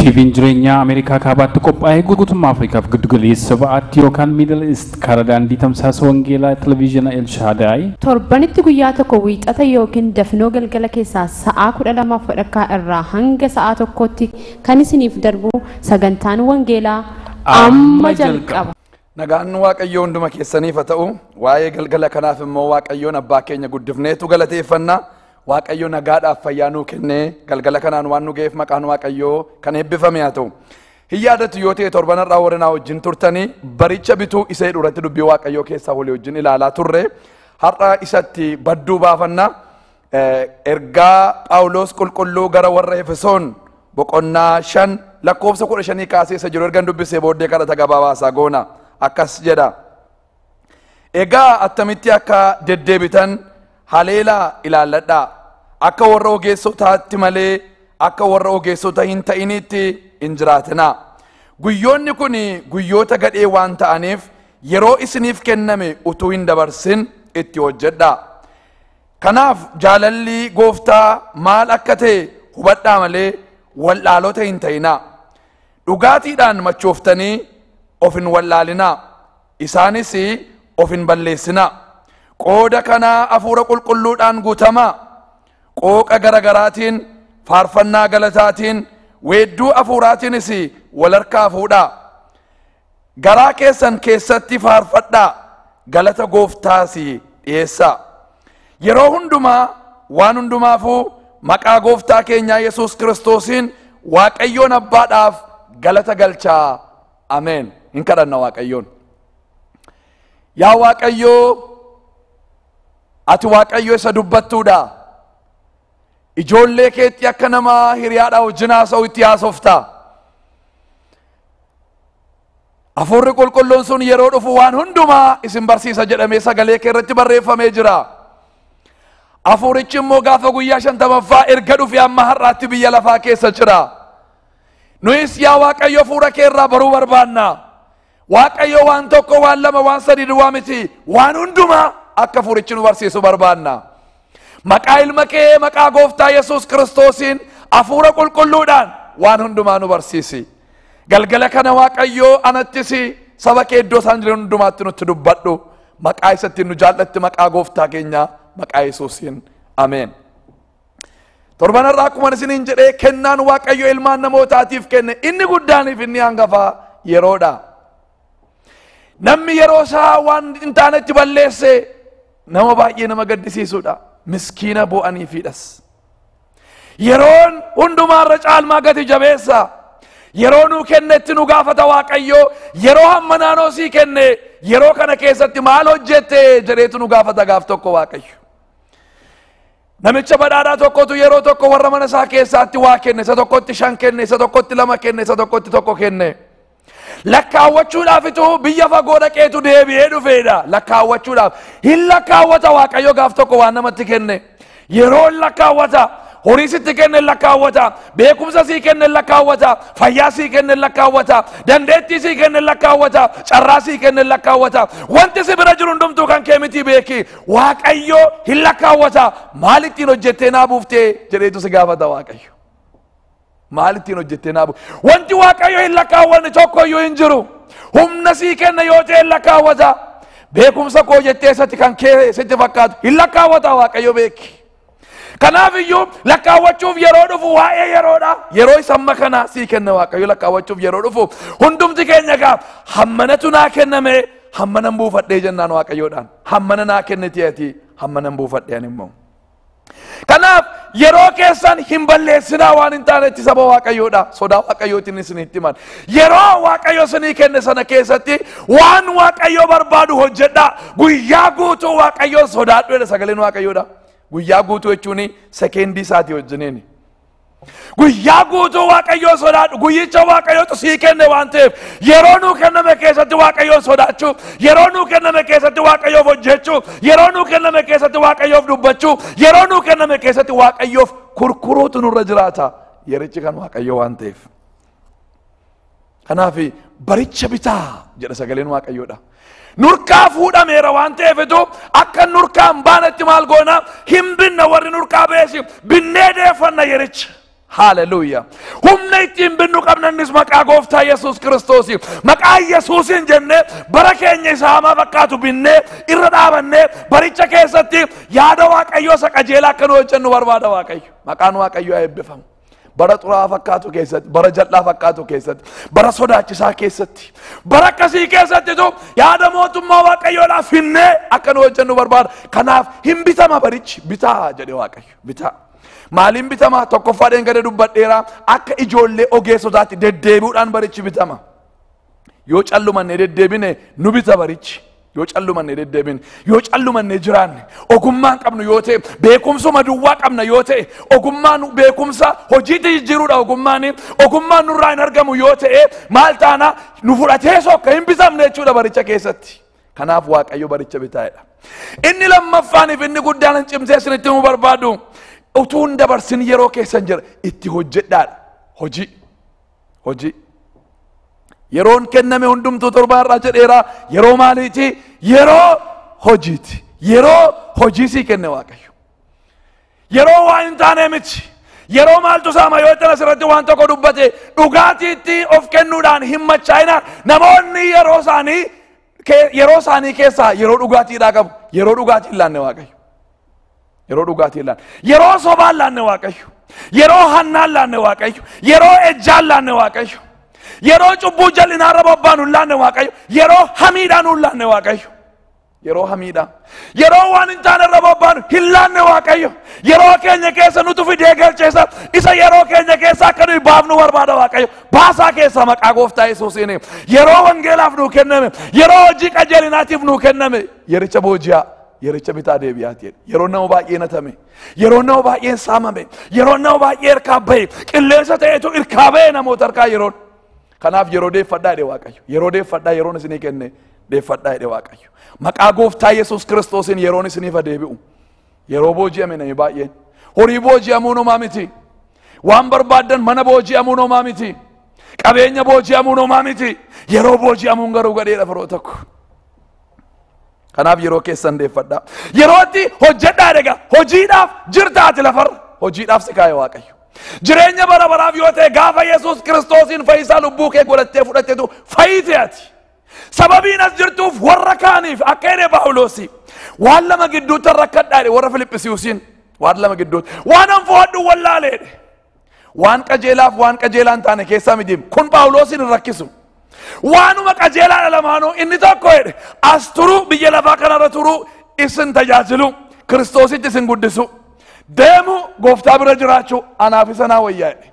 TVn jireenyaa Ameerikaa Kaabaatti qophaa'e guutummaa Afrikaaf giddu galeessa ba'aatti yookaan Middle East karaa daandii tamsaasa wangeelaa televiizyiina El Shaadaay Torbanitti guyyaa tokko wiixata yookiin dafinoo galgala keessaa sa'aa 12 wadhakkaa irraa hanga sa'aa tokkootti kan isiniif darbu sagantaan wangeelaa amma jalqaba. Nagaan Waaqayyoo hunduma keessaniif haa ta'u. Waa'ee galgala kanaaf immoo Waaqayyoon abbaa keenya guddifneetu galateeffanna. Waaqayyo nagaadhaaf fayyaa nuu kennee galgala kanaan waan nu ga'eef maqaan Waaqayyoo kan eebbifame haa ta'u. Hin yaadatu yoo ta'e torban har'aa warri naa wajjin turtanii baricha bituu isa jedhu irratti dubbii Waaqayyoo keessaa walii wajjin ilaalaa turre. Har'a isatti badduu baafanna. Eh, Ergaa Phaawulos qulqulluu gara warra Efesoon boqonnaa shan lakkoofsa kudha shanii kaasee isa jiru ergan dubbisee booddee kadhata gabaabaa isaa goona. Akkas jedha. Egaa attamitti akka deddeebitan haleelaa ilaalladhaa. Akka warra ogeessotaatti malee akka warra ogeessota hin ta'iniitti hin jiraatinaa. Guyyoonni kun guyyoota gadhee waan ta'aniif yeroo isiniif kenname utuu hin dabarsin itti hojjedhaa. Kanaaf jaalalli gooftaa maal akka ta'e hubadhaa malee wal'aalota hin ta'inaa. Dhugaatiidhaan machooftanii of hin wallaalinaa, isaanis of hin balleessinaa. Qooda kanaa Hafuura Qulqulluudhaan guutamaa. Qooqa gara garaatiin, faarfannaa galataatiin, weedduu Hafuuraatiinis wal harkaa fuudhaa. Garaa keessan keessatti faarfadhaa, galata gooftaas dhiyeessaa. Yeroo hundumaa waan hundumaafuu maqaa gooftaa keenyaa Yesuus Kiristoosiin Waaqayyoon Abbaadhaaf galata galchaa. Ameen. Hin kadhanna Waaqayyoon. Yaa Waaqayyoo, ati Waaqayyo isa dubbattuudha. Ijoollee keetti akka nama hiriyaadhaa wajjin haasa'u itti haasofta. Hafuurri qulqulluun sun yeroo dhufu waan hundumaa isin barsiisa jedhamee sagalee kee irratti barreeffamee jira. Hafuurichi immoo gaafa guyyaa shantamaffaa erga dhufe amma har'aatti biyya lafaa keessa jira. Nuyis yaa Waaqayyo hafuura kee irraa baruu barbaanna. Waaqayyo waan tokko waan lama waan sadii duwwaa miti waan hundumaa akka hafuurichi nu barsiisu barbaanna. Maqaa ilma kee maqaa gooftaa Yesuus Kiristoosiin hafuura qulqulluudhaan waan hundumaa nu barsiisi. Galgala kana Waaqayyoo anattis saba kee iddoo isaan jiran hundumaatti nutti dubbadhu. Maqaa isa ittiin nu jaallatti maqaa gooftaa keenyaa maqaa Yesuusiin. Ameen. Torban irraa akkuma isiniin jedhee kennaan Waaqayyo ilmaan namootaatiif kenne inni guddaaniif inni hangafaa yeroodha. Namni yeroo isaa waan hin taanetti balleesse nama baay'ee nama gaddisiisuudha miskiina boo'aniifiidhas yeroon hundumaa irra caalmaa gati jabeessa yeroo nuu kennetti nu gaafata waaqayyoo yeroo hamma naanoo sii kenne yeroo kana keessatti maal hojjette jedheetu nu gaafata gaaf tokko waaqayyo namicha badhaadhaa tokkotu yeroo tokko warra mana isaa keessaatti waa kenne isa tokkotti shan kenne isa tokkotti lama kenne isa tokkotti tokko kenne Lakkaawwachuudhaafitu biyya fagoo dhaqeetu deebi'ee dhufeedha. Lakkaawwachuudhaaf hin lakkaawwata Waaqayyo gaaf tokko waan namatti kenne. Yeroo hin lakkaawwata. Horii sitti kenne hin lakkaawwata. Beekumsa sii kenne hin lakkaawwata. Fayyaa sii kenne hin lakkaawwata. Dandeettii sii kenne hin lakkaawwata. Carraa sii kenne hin lakkaawwata. Wanti si bira jiru hundumtuu kan kee miti beeki. Waaqayyo hin lakkaawwata. Maal ittiin hojjettee naa buuftee jedheetu si gaafata Waaqayyo. Maal ittiin hojjettee naa bu'e? Wanti Waaqayyo hin lakkaawwanne tokko iyyuu hin jiru. Humna sii kenna yoo ta'e hin lakkaawwata. Beekumsa koo jettee isatti kan kee sitti fakkaatu hin lakkaawwata Waaqayyo beeki. Kanaaf iyyuu lakkaawwachuuf yeroo dhufu waa'ee yeroodha. Yeroo isa amma kana sii kenna Waaqayyo lakkaawwachuuf yeroo dhufu hundumti keenya egaa hammanatu naa kenname hammanan buufadhee jennaan Waaqayyoodhaan. Hammana naa kenniti ati hammanan buufadhee ani immoo. Kanaaf yeroo keessan hin balleessinaa waan hin taanetti saba waaqayyoodha. Sodaa waaqayyootiin isinitti himan. Yeroo waaqayyo isinii kenne sana keessatti waan waaqayyo barbaadu hojjedhaa. Guyyaa guutuu waaqayyoon sodaadhu jedha sagaleen waaqayyoodha. Guyyaa guutuu jechuun sekeendii isaatii wajjiniini. Guyyaa guutuu Waaqayyoo sodaadhu. Guyyicha Waaqayyootu sii kenne waan ta'eef yeroo nuu kenname keessatti Waaqayyoon sodaachuu, yeroo nuu kenname keessatti Waaqayyoof hojjechuu, yeroo nuu kenname keessatti Waaqayyoof dubbachuu, yeroo nuu kenname keessatti Waaqayyoof kurkuruutu nurra jiraata. Yerichi kan Waaqayyoo waan ta'eef. Kanaaf baricha bitaa jedha sagaleen waaqayyoodha. Nurkaa fuudhameera waan ta'eefitu akka nurkaa hin baanetti maal goona hin binna warri nurkaa beesi binnee deeffanna yericha. Haaleluyyaa. Humna ittiin binnu qabnannis maqaa gooftaa Yesuus Kiristoos. Maqaa Yesuusiin jennee bara keenya isa hamaa fakkaatu binnee irra dhaabannee baricha keessatti yaada waaqayyoo isa qajeelaa akka nu hojjennu barbaada waaqayyo. Maqaan waaqayyoo haa eebbifamu. bara xuraa'aa fakkaatu keessatti bara jal'aa fakkaatu keessatti bara sodaachisaa keessatti bara akkasii keessattitu yaada mootummaa waaqayyoodhaaf finnee akka nu hojjennu barbaada kanaaf hin bitama barichi bitaa jedhe waaqayyo bitaa maaliin bitama tokkoffaadheen gada dubbadheera akka ijoollee ogeessotaatti deddeebi'uudhaan barichi bitama Yoo callumanne deddeebine nu bita barichi. Yoo callumanne deddeebine, yoo callumanne jiraanne, ogummaan qabnu yoo ta'e, beekumsuma duwwaa qabna yoo ta'e, ogummaan beekumsa hojiitti jijjiiruudha ogummaan, ogummaan nurraa hin argamu yoo ta'e, maal taana nu fudhatee sokka hin bitamne jechuudha baricha keessatti. Kanaaf Waaqayyo baricha bitaa'edha. Inni lammaffaaniif inni guddaan hin cimsee isinitti himuu barbaadu utuu hin dabarsin yeroo keessan jira itti hojjedhaadha hojii. hojii yeroon kenname hundumtuu torbaa har'aa jedheera yeroo maaliiti yeroo hojiiti yeroo hojii sii kenne waaqayyo yeroo waa hin taane miti yeroo maaltu saama yoo itti asirratti waan tokko dubbate dhugaatiitti of kennuudhaan hin machaa'ina namoonni yeroo isaanii kee- yeroo isaanii keessaa yeroo dhugaatiidhaa qabu yeroo dhugaatii hin laanne waaqayyo yeroo dhugaatii hin laanne yeroo sobaan laanne waaqayyo yeroo hannaan laanne waaqayyo yeroo ejjaan laanne waaqayyo yeroo cubbuu jal'inaarra bobbaanu hin laanne waaqayyo yeroo hamiidhaan hin laanne waaqayyo yeroo hamiidhaan Yeroo waan hin taane irra bobbaanu hin laanne Waaqayyo. Yeroo keenya keessa nutu fidee galcheessa. Isa yeroo keenya keessa akka nuyi baafnu barbaada Waaqayyo. Baasaa keessaa maqaa gooftaa Yesuusiin. Yeroo wangeelaaf nuu kenname. Yeroo hojii qajeelinaatiif nuu kenname. Yericha booji'aa. Yericha bitaa deebi'aa jedhe. Yeroo nama baay'ee natame. Yeroo nama baay'een saamame. Yeroo nama baay'ee irkaa bahe. Qilleensa ta'etu irkaa bahe namoota irkaa yeroon. Kanaaf yeroo deeffadhaa jedhe Waaqayyo. Yeroo deeffadhaa yeroon isinii kenne deeffadhaa jedhe Waaqayyo. Maqaa gooftaa Yesuus Kiristoosiin yeroon isiniif deebi'u. Yeroo booji'ame namni baay'een. Horii booji'amuun homaa miti. Waan barbaaddan mana booji'amuun homaa miti. Qabeenya booji'amuun homaa miti. Yeroo booji'amuun garuu gadheedha firoota koo. Kanaaf yeroo keessan deeffadhaa. Yeroo itti hojjedhaa egaa hojiidhaaf jirta ati lafarra hojiidhaaf si kaa'e waaqayyo. Jireenya bara baraaf yoo ta'e gaafa Yesuus kiristoosiin fayyisaa lubbuu kee godhattee fudhattetu fayyite ati. Sababiin as jirtuuf warra kaaniif akka jedhe Paawuloosi waan lama gidduutti rakkadhaa jedhe warra Filiphisiusiin waan lama gidduutti waan an fo'adhu wallaaleedhe. Waan qajeelaaf waan qajeelaa hin taane keessaa miti. Kun Phaawuloosiin hin rakkisu. Waanuma qajeelaadha lamaanuu inni tokko jedhe as turuu biyya lafaa kanarra turuu isin tajaajilu kiristoositti isin guddisu deemu gooftaa bira jiraachuu anaaf isa naa wayyaa jedhe.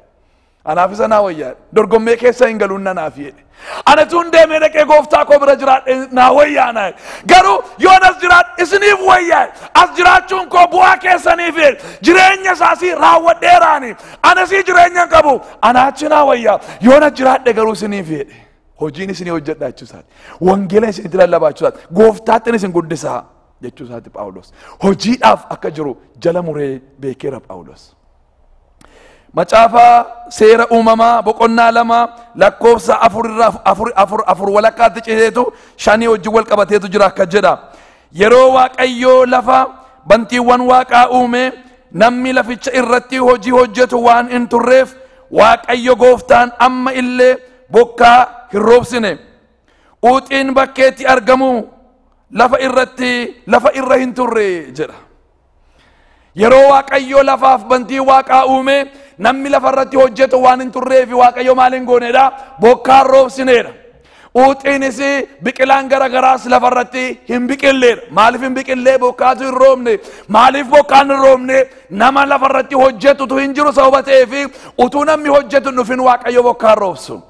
Anaaf isa naa wayyaa jedhe. Dorgommee keessa hin galuun nanaaf jedhe. Ani tun deemee dhaqee gooftaa koo bira jiraadhe naa wayyaa naa garuu yoon as jiraadhe isiniif wayyaa as jiraachuun koo bu'aa keessaniif jireenya isaasii raawwadheeraani anasii jireenya hin qabu ana achi naa wayyaa yoon as jiraadhe garuu isiniif jedhe hojiin isinii hojjedha jechuu isaati wangeela isinitti lallabaa jechuu isaati gooftaattin isin guddisaa jechuu isaati phaawulos hojiidhaaf akka jiru jala muree beekeera phaawulos. Macaafa seera uumamaa boqonnaa lama lakkoofsa afur irraa afur afur afur walakkaatti citeetu shanii wajjin wal qabateetu jira akka jedha. Yeroo Waaqayyoo lafa bantiiwwan waaqaa uume namni laficha irratti hojii hojjetu waan hin turreef Waaqayyo gooftaan amma illee bokkaa hin roobsine. Uuxiin bakkeetti argamu lafa irratti lafa irra hin turre jedha. Yeroo Waaqayyoo lafaaf bantii waaqaa uume namni lafa irratti hojjetu waan hin turreefi Waaqayyo maal hin goonedha? Bokkaan roobsineedha. Uuxiinis biqilaan gara garaas lafa irratti hin biqilleedha. Maaliif hin biqillee bokkaatu hin roobne? Maaliif bokkaan hin roobne? Nama lafa irratti hojjetutu hin jiru sababa ta'eefi utuu namni hojjetu hin dhufin Waaqayyo bokkaan roobsu.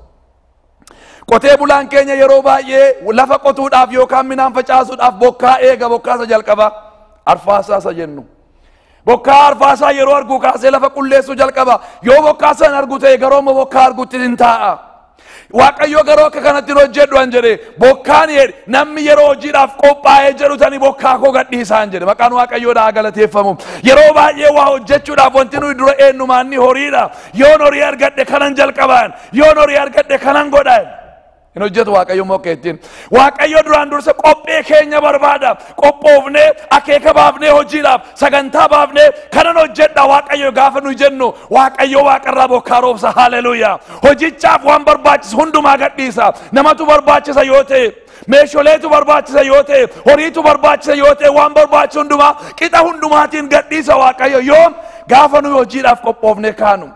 Qotee bulaan keenya yeroo baay'ee lafa qotuudhaaf yookaan midhaan facaasuudhaaf bokkaa eega bokkaa isa jalqabaa arfaasaa isa jennu. Bokkaa arfaasaa yeroo argu kaasee lafa qulleessuu jalqaba. Yoo bokkaa san argu ta'e garuu immoo bokkaa argutti hin taa'a. Waaqayyo garuu akka kanatti hin hojjedhu an jedhe bokkaan jedhe namni yeroo hojiidhaaf qophaa'ee jedhu tani bokkaa koo gadhiisaan jedhe maqaan waaqayyoodhaa galateeffamu. Yeroo baay'ee waa hojjechuudhaaf wanti nuyi dura eenyumaan ni horiidha. Yoon horii argadhe kanan jalqabaan. Yoon horii argadhe kanan godhaan. Hin hojjetu Waaqayyo immoo akka ittiin. Waaqayyo duraan dursa qophee keenya barbaada. Qophoofnee akeeka baafnee hojiidhaaf sagantaa baafnee kanan hojjedha Waaqayyo gaafa nuyi jennu Waaqayyo waaqarraa bokkaa roobsa haleluuyaa. Hojichaaf waan barbaachisu hundumaa gadhiisa. Namatu barbaachisa yoo ta'e Meesholeetu barbaachisa yoo ta'e, horiitu barbaachisa yoo ta'e, waan barbaachisu hundumaa qixa hundumaatiin gadhiisa Waaqayyo yoom gaafa nuyi hojiidhaaf qophoofne kaanu.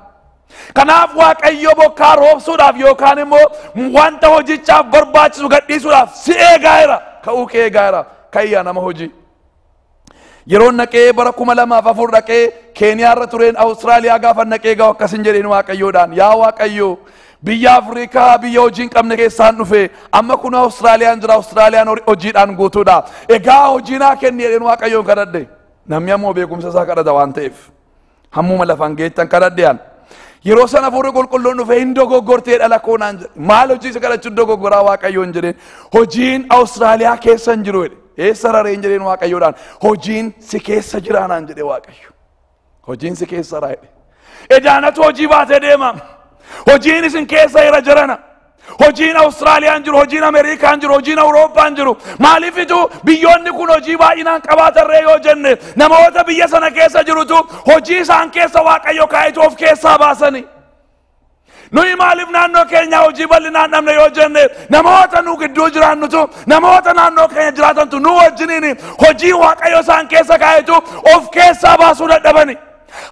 Kanaaf Waaqayyo bokkaa roobsuudhaaf yookaan immoo wanta hojichaaf barbaachisu gadhiisuudhaaf si eegaa jira. Ka'uu kee eegaa jira. Ka'ii yaa nama hojii. Yeroon dhaqee bara kuma lamaaf afur dhaqee Keeniyaa irra tureen Awustiraaliyaa gaafa dhaqee gahu akkasin jedheen Waaqayyoodhaan yaa Waaqayyo biyya Afrikaa biyya hojii hin qabne keessaan dhufe amma kun Awustiraaliyaan jira Awustiraaliyaan hori- hojiidhaan guutuudha egaa hojii naa kenni jedheen Waaqayyoon kadhadhe namni ammoo beekumsa isaa kadhata waan ta'eef. Hammuma lafaan geettan kadhadhe an. Yeroo sana hafuurri qulqulluun dhufee hin dogoggortee dhala koo naan jedhe. Maal hojii isa kadhachuun dogoggoraa waaqayyoon jedheen. Hojiin Awustiraaliyaa keessa hin jiru jedhe. Eessa rareen jedheen waaqayyoodhaan. Hojiin si keessa jiraa naan jedhe waaqayyo. Hojiin si keessa raa jedhe. Edaanatu hojii baatee deema. Hojiin isin keessa jira jirana. Hojiin Awustiraaliyaan jiru, hojiin Ameerikaan jiru, hojiin Awurooppaan jiru. Maaliifitu biyyoonni kun hojii baay'inaan qabaatarree yoo jenne namoota biyya sana keessa jirutu hojii isaan keessa Waaqayyo kaa'itu of keessaa baasanii. Nuyi maaliif naannoo keenyaa hojii bal'inaan dhabne yoo jenne namoota nu gidduu jiraannutu namoota naannoo keenya jiraatantu nu wajjiniin hojii Waaqayyo isaan keessa kaa'itu of keessaa baasuu dadhabani.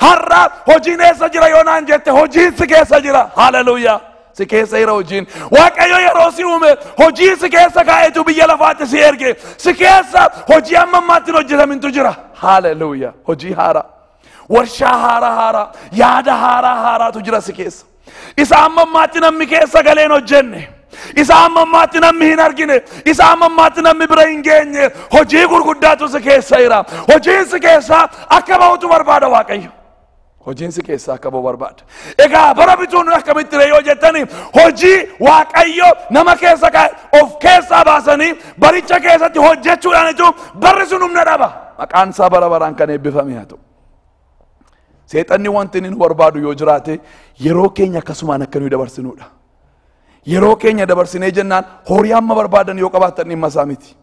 Har'a hojiin eessa jira yoo naan jette hojiin si keessa jira. Haleluuyaa. si keessa jira hojiin waaqayyo yeroo si uume hojii si keessa kaa'etu biyya lafaatti si erge si keessa hojii amma ammaatti hin hojjetamintu jira haaleluuya hojii haaraa warshaa haaraa haaraa yaada haaraa haaraatu jira si keessa isa amma ammaatti namni keessa galee hin hojjenne isa amma ammaatti namni hin argine isa amma ammaatti namni bira hin geenye hojii gurguddaatu si keessa jira hojiin si keessaa akka ba'utu barbaada waaqayyo Hojiin si keessaa akka ba'u barbaada. Egaa bara bituun akkamitti ree yoo jettani hojii waaqayyo nama keessa kaa'e of keessaa baasanii baricha keessatti hojjechuudhaan jechuun barri sun humna dhaba. Maqaan isaa bara baraan kan eebbifame haa ta'u. Seexanni wanti inni nu barbaadu yoo jiraate yeroo keenya akkasumaan akka nuyi dabarsinuudha. Yeroo keenya dabarsinee jennaan horii amma barbaadan yoo qabaatan dhimma isaa miti.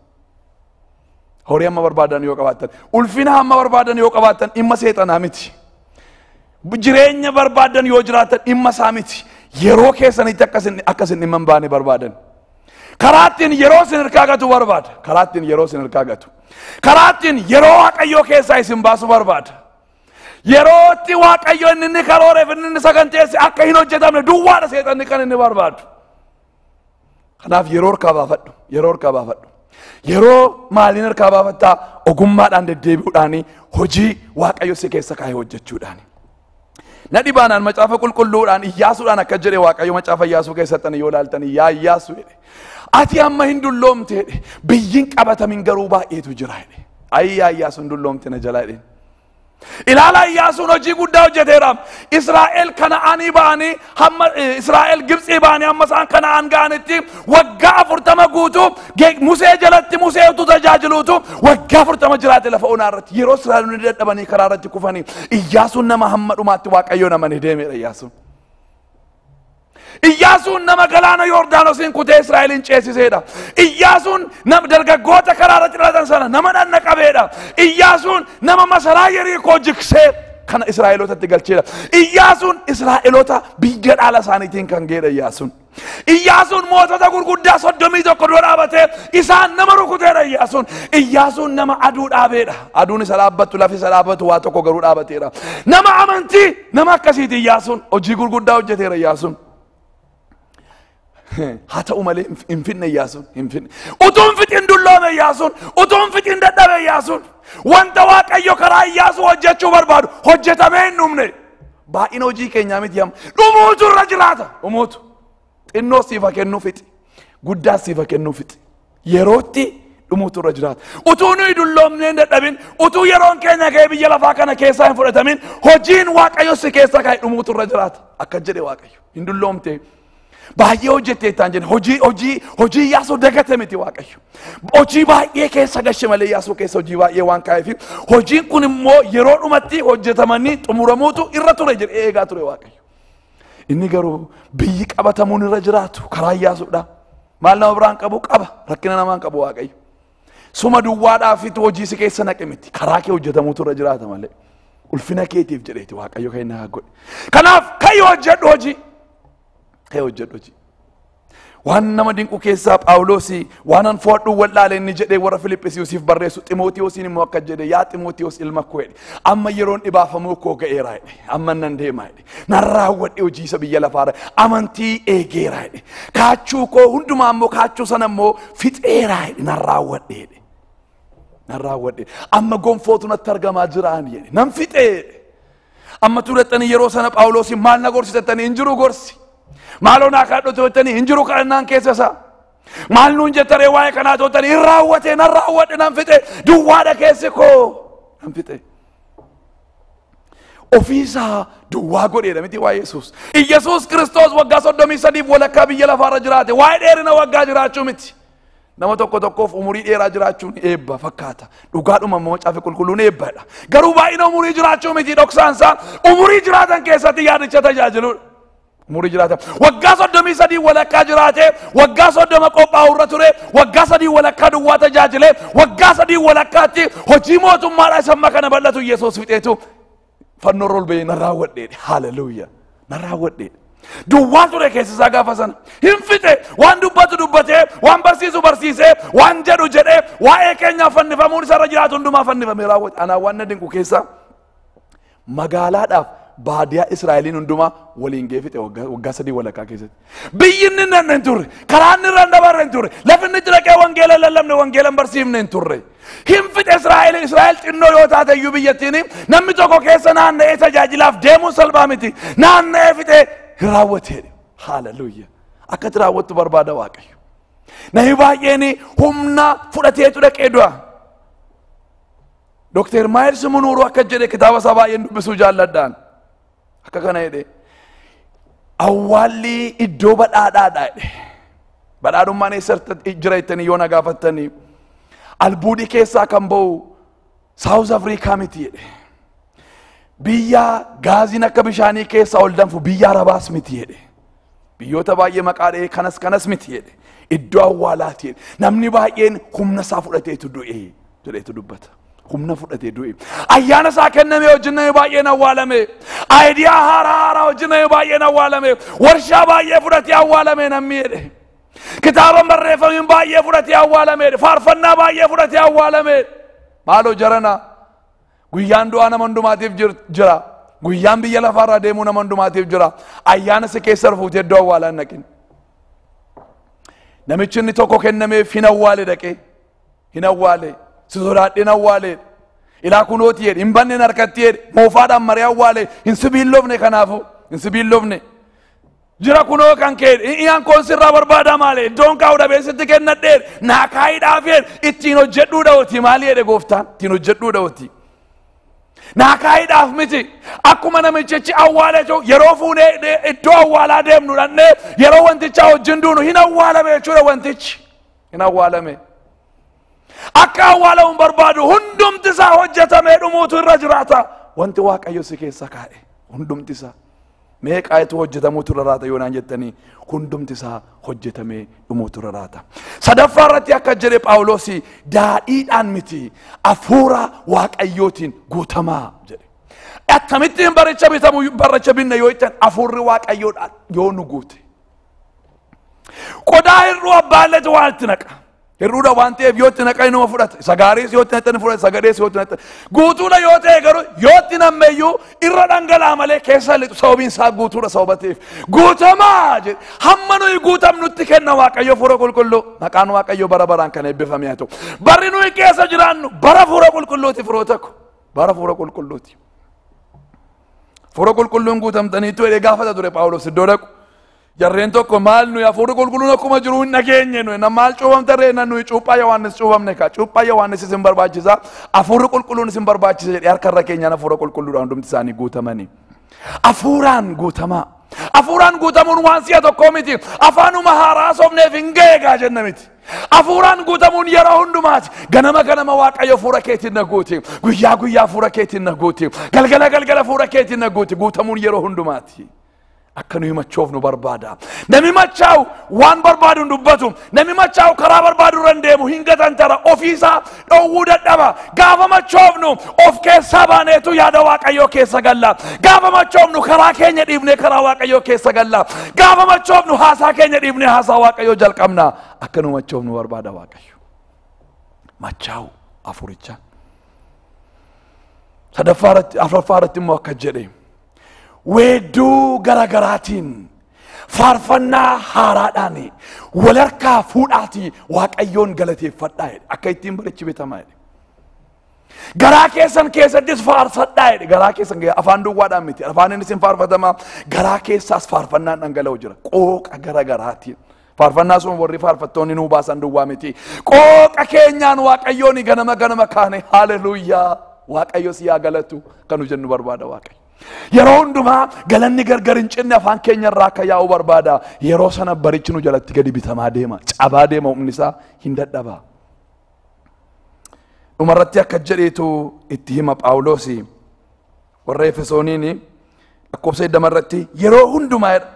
Horii hamma barbaadan yoo qabaattan, ulfina hamma barbaadan yoo qabaattan dhimma seexanaa miti. Jireenya barbaadan yoo jiraattan dhimma isaa miti. Yeroo keessanitti akka isin akka isin dhimma hin baane barbaadan. Karaa ittiin yeroo isin harkaa gatu barbaada. Karaa ittiin yeroo isin harkaa gatu. Karaa ittiin yeroo waaqayyoo keessaa isin baasu barbaada. Yerootti waaqayyo inni inni karooreef inni inni saganteesse akka hin hojjetamne duwwaadha seexanni kan inni barbaadu. Kanaaf yeroo harkaa baafadhu. Yeroo harkaa baafadhu. Yeroo maaliin harkaa baafattaa? Ogummaadhaan deddeebi'uudhaan hojii Waaqayyo si keessa kaa'e hojjechuudhaan. Na dhibaanaan macaafa qulqulluudhaan iyyaasuudhaan akka jedhe Waaqayyo macaafa iyyaasuu keessatti yoo ilaaltan yaa iyyaasu jedhe. Ati amma hin dulloomte jedhe. Biyyiin qabatamin garuu baay'eetu jira jedhe. Ayii yaa iyyaasu hin dulloomte na jalaa jedhe. Ilaalaa Iyyaasuun hojii guddaa hojjeteera. Israa'el kana'aanii ba'anii hamma eh, Israa'el Gibxii ba'anii hamma isaan kana'aan ga'anitti waggaa afurtama guutuu ge- Musee jalatti Musee utuu tajaajiluutu waggaa afurtama jiraate lafa onaa irratti yeroo Israa'elonni dadhabanii karaa irratti kufanii Iyyaasuun nama hamma dhumaatti Waaqayyoon amanee deemeera Iyyaasuun. Iyyaasuun nama galaana Yoordaanosiin kutee Israa'eliin ceesiseedha. Iyyaasuun nama dargaggoota karaa irratti dhalatan sana nama dhanna qabeedha. Iyyaasuun nama masaraa Yerikoo jiksee kana Israa'elootatti galcheedha. Iyyaasuun Israa'eloota biyya dhaala isaaniitiin kan geedha Iyyaasuun. Iyyaasuun mootota gurguddaa soddomii tokko dura dhaabatee isaan nama rukuteedha Iyyaasuun. Iyyaasuun nama aduu dhaabeedha. Aduun isa dhaabbattu lafi isa dhaabbatu waa tokko garuu dhaabateedha. Nama amantii Nama akkasiiti Iyyaasuun hojii gurguddaa hojjeteera Iyyaasuun. Haa ta'u malee hin- hin finne Iyyaasuun hin finne. Utuu hin fixin dulloome Iyyaasuun utuu hin fixin dadhabe Iyyaasuun wanta Waaqayyo karaa Iyyaasuu hojjechuu barbaadu hojjetamee hin dhumne. Baay'ina hojii keenyaa miti amma dhumuutu irra jiraata dhumuutu. Xinnoo siif haa kennuu fixi. Guddaa siif haa kennuu fixi. Yerootti dhumuutu irra jiraata. Utuu nuyi dulloomnee hin dadhabin, utuu yeroon keenya ga'ee biyya lafaa kana keessaa hin fudhatamin, hojiin Waaqayyo si keessa kaa'e dhumuutu irra jiraata. Akka jedhe Waaqayyo. Hin dulloomte. Baay'ee hojjetteettaan jedhe. Hojii hojii hojii Iyyaasuu dagate miti Waaqayyo. Hojii baay'ee keessa gashe malee Iyyaasuu keessa hojii baay'ee waan kaa'eef hojiin kun immoo yeroo dhumatti hojjetamanii xumuramuutu irra ture jedhee eegaa ture Waaqayyo. Inni garuu biyyi qabatamuun irra jiraatu karaa Iyyaasuudha. Maal nama biraan qabu qaba rakkina namaan qabu waaqayyo. Suma duwwaadhaafitu hojii si keessa naqe miti karaa kee hojjetamuutu irra jiraata malee. Ulfina keetiif jedheeti waaqayyo kan inni haa godhe. Kanaaf ka'ii hojjedhu hojii. Ka'ii hojjedhu hojii. Waan nama dinqu keessaa Phaawulosi waanan fo'adhu wal'aale inni jedhee warra Filiphisiisiif barreessu Ximootiyoosiin immoo akka jedhe yaa Ximootiyoos ilma koo jedhe amma yeroon dhibaafamuu koo ga'eera jedhe amma nan deema jedhe nan raawwadhe hojii isa biyya lafaarra amantii eegeera jedhe kaachuu koo hundumaa immoo kaachuu sana immoo fixeera jedhe nan raawwadhe jedhe nan raawwadhe amma gonfootu natti argamaa jiraan jedhe nan fixee jedhe Amma turettanii yeroo sana Phaawuloosiin maal na gorsitattanii hin jiru gorsi. Maaloo naa kadhadhu turettanii hin jiru kadhannaan keessa isaa. Maal nuun jettaree waa'ee kanaa turettanii hin raawwate nan raawwadhe nan fixe duwwaadha keessi koo nan fixe. ofiisaa duwwaa godheedha miti waa'ee Yesuus. Yesuus Kiristoos waggaa soddomii sadiif walakkaa biyya lafaarra jiraate waa'ee dheerina waggaa jiraachuu miti. Nama tokko tokkoof umurii dheeraa jiraachuun eebba fakkaata. Dhugaadhuma immoo caafi qulqulluun eebbadha. Garuu baay'ina umurii jiraachuu miti dhoksaan isaa umurii jiraatan keessatti yaadicha tajaajiludha. Umurii jiraatan waggaa soddomii sadii walakkaa jiraatee waggaa soddoma qophaa'u irra ture waggaa sadii walakkaa duwwaa tajaajilee waggaa sadii walakkaatti hojii mootummaadhaa isa amma kana bal'atu Yesuus fixeetu fannoo irra ol ba'ee na raawwadheedhe haleluuya na raawwadheedhe duwwaa ture keessa isaa gaafa sana hin fixe waan dubbatu dubbatee waan barsiisu barsiisee waan jedhu jedhee waa'ee keenyaa fannifamuun isarra jiraatu hundumaa fannifamee raawwate anaa waan na dinqu keessaa magaalaadhaaf baadiyaa Israa'eliin hundumaa waliin geefite waggaa waggaa sadii walakkaa keessatti. Biyyi inni hin dhaqne hin turre. Karaa inni irra hin dabarre hin turre. Lafi inni itti dhaqee wangeela hin lallabne wangeela hin barsiifne hin turre. Hin fixe Israa'el Israa'el xinnoo yoo taate iyyuu biyyattiin namni tokko keessa naanna'ee tajaajilaaf deemuun salphaa miti. Naanna'ee fixe hin raawwatee. Haaleluyya. Akkatti raawwattu barbaada Waaqayyo. Namni baay'een humna fudhateetu dhaqee du'a. Dooktar Maayils Munuuruu akka jedhe kitaaba isaa baay'een dubbisuu jaalladhaan. Akka kana jedhe awwaalli iddoo badhaadhaadha jedhe. Badhaadhummaan eessatti jira jettanii yoo na gaafattanii albuudii keessaa kan ba'u Saawuz Afrikaa miti jedhe. Biyya gaaziin akka bishaanii keessaa ol danfu biyya Arabaas miti jedhe. Biyyoota baay'ee maqaa dha'ee kanas kanas miti jedhe. Iddoo awwaalaati jedhe. Namni baay'een humna isaa fudhateetu du'e jedheetu dubbata. Humna fudhatee du'e. Ayyaana isaa kenname wajjin namni baay'een awwaalame. Aayidiyaa haaraa haaraa wajjin namni baay'een awwaalame. Warshaa baay'ee fudhatee awwaalame namni jedhe. Kitaaba barreeffamiin baay'ee fudhatee awwaalame. Faarfannaa baay'ee fudhatee awwaalame. Maaloo jaranaa. Guyyaan du'aa nama hundumaatiif jir- jira. Guyyaan biyya lafaarraa deemuu nama hundumaatiif jira. Ayyaana si keessa rufuutee iddoo awwaalaa hin dhaqin. Namichi inni tokko kennameef hin awwaale dhaqee. Hin awwaale. Si sodaadhee hin awwaale. Ilaa kunooti jedhe. Hin banne hin harkatti jedhe. Moofaadhaan maree awwaale. Hin sibiilofne kanaafuu. Hin sibiilofne. Jira kunoo kan kee iyaan koon sirraa barbaadaa maale iddoon kaa'u dhabee sitti kennadheen naa kaayidhaafeen ittiin hojjedhuu dha'ooti maali jedhe gooftaan ittiin hojjedhuu dha'ooti. Naa kaayidhaaf miti akkuma namichichi awwaala jiru yeroo fuunee de- iddoo awwaalaa deemnu dhannee yeroo wantichaa wajjin duunu hin awwaalame jechuudha wantichi hin awwaalame. Akka awwaalamu barbaadu hundumti isaa hojjetamee dhumuutu irra jiraata. Wanti Waaqayyo si keessa kaa'e hundumti isaa meeqaayitu hojjetamuutu irra raata yoo naan jettanii hundumti isaa hojjetamee dhumuutu irra raata. Sadaffaa irratti akka jedhe Phaawulos daadhiidhaan miti hafuura Waaqayyootiin guutamaa jedhe. Akkamittiin baricha bitamu baricha binna yoo jettan hafuurri Waaqayyoodhaan yoo nu guute. Qodaa hir'uu abbaa illee waa itti naqa. Hir'uudha waan ta'eef yoo itti naqa inuma fudhata. Isa gaariis yoo itti naqa ni fudhata. Isa gadhees yoo itti naqa. Guutuudha yoo ta'e garuu yoo itti namme iyyuu irra dhangala'a malee keessa lixu sababiin isaa guutuudha sababa ta'eef. Guutamaa jedhe hamma nuyi guutamnutti kenna waaqayyo fuura qulqulluu maqaan waaqayyo bara baraan kan eebbifame haa ta'u. Barri nuyi keessa jiraannu bara fuura qulqulluuti firoota ko. Bara fuura qulqulluuti. Fuura qulqulluun guutamtaniitu jedhee gaafata ture Phaawulos iddoo dhaqu. Jarreen tokko maal nuyi hafuurri qulqulluun akkuma jiru hin dhageenye nuyi na maal cuuphamte ree na nuyi cuuphaa Yohaannis cuuphamne kaa cuuphaa Yohaannis isin barbaachisa hafuurri qulqulluun isin barbaachisa jedhee harka irra keenyaan hafuura qulqulluudhaan hundumti isaanii guutamanii. Hafuuraan guutamaa. Hafuuraan guutamuun waan si'a tokkoo miti. Afaanuma haaraa sobneef hin ga'eegaa jenna miti. Hafuuraan guutamuun yeroo hundumaati. Ganama ganama waaqayyo fuura keetiin na guuti. Guyyaa guyyaa fuura keetiin na guuti. Galgala galgala fuura keetiin na guuti. Guutamuun yeroo hundumaati. akka nu himachoofnu barbaada nami machaa'u waan barbaadu hin dubbatu nami machaa'u karaa barbaadu irra hin deemu hin gatantara ofiisaa dhowwuu dadhaba gaafa machoofnu of keessaa baaneetu yaada waaqayyoo keessa galla gaafa machoofnu karaa keenya dhiifnee karaa waaqayyoo keessa galla gaafa machoofnu haasaa keenya dhiifnee haasaa waaqayyoo jalqabna akka nu machoofnu barbaada waaqayyo machaa'u afuricha sadaffaa irratti afraffaa irratti immoo akka jedhe weedduu garagaraatiin faarfannaa haaraadhaan wal harkaa fuudhaatii waaqayyoon galateeffadhaa jedhe akka ittiin barichi betamaa jedhe. Garaa keessan keessattis faarfadhaa jedhe garaa keessan keessa- afaan duwwaadhaan miti afaan inni isin faarfatamaa garaa keessaas faarfannaan dhangala'u jira qooqa garagaraatiin Faarfannaa sun warri faarfattoonni nuu baasan duwwaa miti. Qooqa keenyaan Waaqayyoon ganama ganama kaane haaleluyyaa Waaqayyo si haa galatu kan nu jennu barbaada Waaqayyo. Yeroo hundumaa galanni gargar hin cinne afaan keenya irraa akka yaa'u barbaada. Yeroo sana barichi nu jalatti gadi bitamaa deema. Cabaa deema humni isaa hin dadhaba. Dhumarratti akka jedheetu itti hima Phaawulosi. Warra Efesooniin lakkoofsa 20 irratti yeroo hundumaa jedha,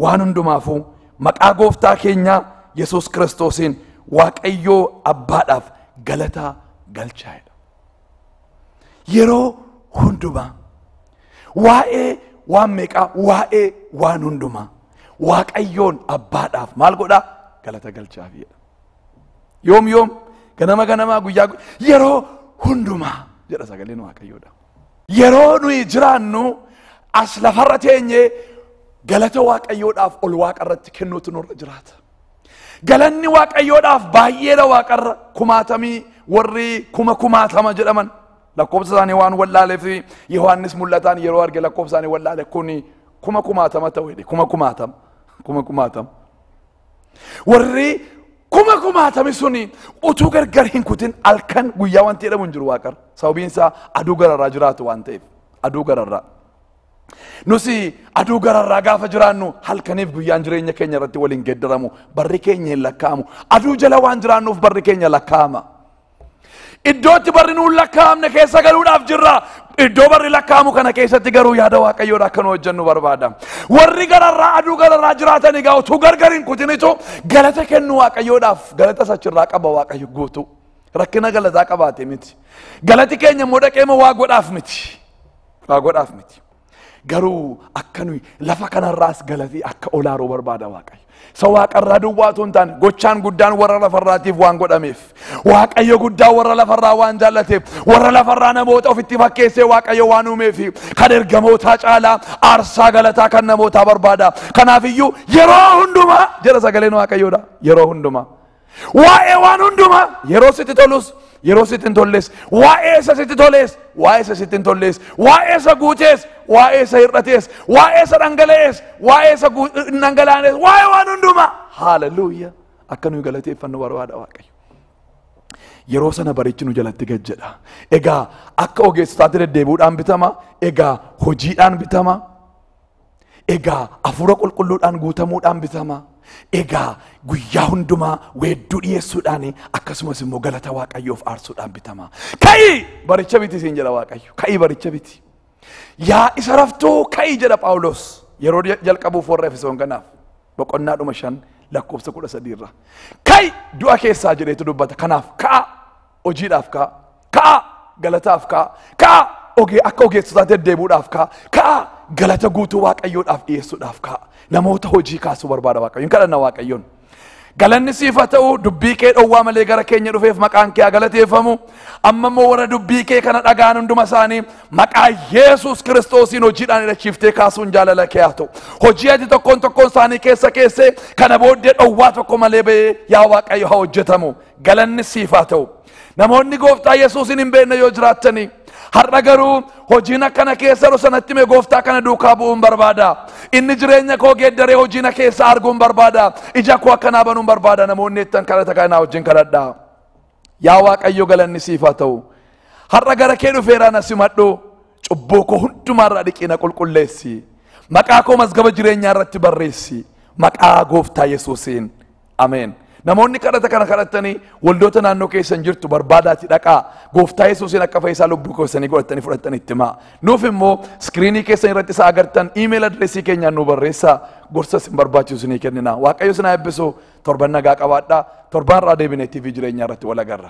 waan hundumaafuu maqaa gooftaa keenyaa Yesuus Kiristoosiin Waaqayyoo Abbaadhaaf galataa galchaa jedha. Yeroo hundumaa waa'ee waan meeqaa waa'ee waan hundumaa Waaqayyoon Abbaadhaaf maal godhaa galata galchaaf jedha. Yoom yoom ganama ganamaa guyyaa gu- yeroo hundumaa jedha sagaleen Waaqayyoodha. Yeroo nuyi jiraannu as lafarra teenye galata waaqayyoodhaaf ol waaqarratti kennuutu nurra jiraata. Galanni waaqayyoodhaaf baay'eedha waaqarra kumaatamii warri kuma kumaatama jedhaman lakkoofsa isaanii waan wallaaleef Yohaannis mul'ataan yeroo arge lakkoofsa isaanii wallaale kun kuma kumaatama ta'u jedhe kuma kumaatama kuma kumaatama. Warri kuma kumaatame suni utuu gargar hin kutin halkan guyyaa wanti jedhamu hin jiru waaqarra. Sababiin isaa aduu gararraa jiraatu waan ta'eef. Aduu gararraa. Nusi aduu gararraa gaafa jiraannu halkaniif guyyaan jireenya keenya irratti waliin geeddaramu barri keenya hin lakkaa'amu. Aduu jala waan jiraannuuf barri keenya lakkaa'ama. Iddoo itti barri nuun lakkaa'amne keessa galuudhaaf jirra. Iddoo barri lakkaa'amu kana keessatti garuu yaada waaqayyoodha akka nu hojjennu barbaada. Warri gararraa aduu gararraa jiraatan egaa utuu gargar hin kutinitu galata kennu waaqayyoodhaaf galata sachirraa qaba waaqayyo guutuu. Rakkina galataa qabaate miti. Galati keenya immoo dhaqeema waa godhaaf miti. Waa godhaaf miti. Garuu akka nuyi lafa kanarraas galatii akka olaaruu barbaada Waaqayyo. Isa waaqarraa duwwaa otoo hin taane gochaan guddaan warra lafarraatiif waan godhameef Waaqayyo guddaa warra lafarraa waan jaallateef warra lafarraa namoota ofitti fakkeessee Waaqayyo waan uumeef kan ergamootaa caalaa aarsaa galataa kan namootaa barbaada. Kanaafiyyuu yeroo hundumaa jedha sagaleen Waaqayyoodha yeroo hundumaa. Waa'ee waan hundumaa yeroo sitti tolus yeroo sitti hin tolles waa'ee isa sitti tolees waa'ee isa sitti hin tollees waa'ee isa guutees waa'ee isa hir'atees waa'ee isa dhangala'ees waa'ee isa guu- hin dhangala'anees waa'ee waan hundumaa haaleluyya akka nuyi galateeffannu barbaada waaqayyo. yeroo sana barichi nu jalatti gad jedha egaa akka ogeessotaatti deddeebi'uudhaan bitama egaa hojiidhaan bitama Egaa hafuura qulqulluudhaan guutamuudhaan bitama. Egaa guyyaa hundumaa weedduu dhiyeessuudhaan akkasumas immoo galata waaqayyoof aarsuudhaan bitama. Ka'i baricha biti siin jedha waaqayyo. Ka'i baricha biti. Yaa isa raftuu ka'i jedha Phaawulos yeroo jalqabuuf warra Efesoon kanaaf boqonnaa dhuma shan lakkoofsa kudha sadii irraa. Ka'i du'a keessaa jedheetu dubbata. Kanaaf ka'a hojiidhaaf ka'a ka'a galataaf ka'a ka'a ogee akka ogeessotaa deddeebuudhaaf ka'a ka'a galata guutuu waaqayyoodhaaf dhiyeessuudhaaf ka'a namoota hojii kaasuu barbaada waaqayyoon kadhanna waaqayyoon galanni siif haa ta'u dubbii kee dhowwaa malee gara keenya dhufeef maqaan kee haa galateeffamu amma immoo warra dubbii kee kana dhaga'an hunduma isaanii maqaa yesus kiristoosiin hojiidhaan hidhachiiftee kaasuun jaalala kee haa ta'u hojii ati tokkoon tokkoon isaanii keessa keessee kana booddee dhowwaa tokko malee ba'ee yaa waaqayyo haa hojjetamu Galanni siif haa ta'u. Namoonni gooftaa Yesuusin hin beekne yoo jiraattanii har'a garuu hojiin akkana keessa yeroo sanatti mee gooftaa kana duukaa bu'uun barbaada. Inni jireenya koo geeddaree hojii na keessa arguun barbaada. Ija koo akkanaa banuun barbaada namoonni jettan kadhata kanaa wajjin kadhadha. Yaa Waaqayyo galanni siif haa ta'u. Har'a gara kee dhufeeraa na simadhu. Cubbuu koo hundumaarraa dhiqii na qulqulleessi. Maqaa koo mazgaba jireenyaa irratti barreessi. Maqaa gooftaa Yesuusiin. Ameen. Namoonni kadhata kana kadhattanii waldoota naannoo keessan jirtu barbaadaati dhaqaa gooftaa yesuusiin akka fayyisaa lubbuu keessanii godhattanii fudhattan itti himaa. Nuuf immoo iskiriinii keessan irratti isa agartan iimeela adireesii keenyaan nu barreessaa gorsa isin barbaachisu isinii kennina. Waaqayyo isin haa eebbisu torban nagaa qabaadhaa torban irraa deebinee TV jireenyaa irratti wal agarra.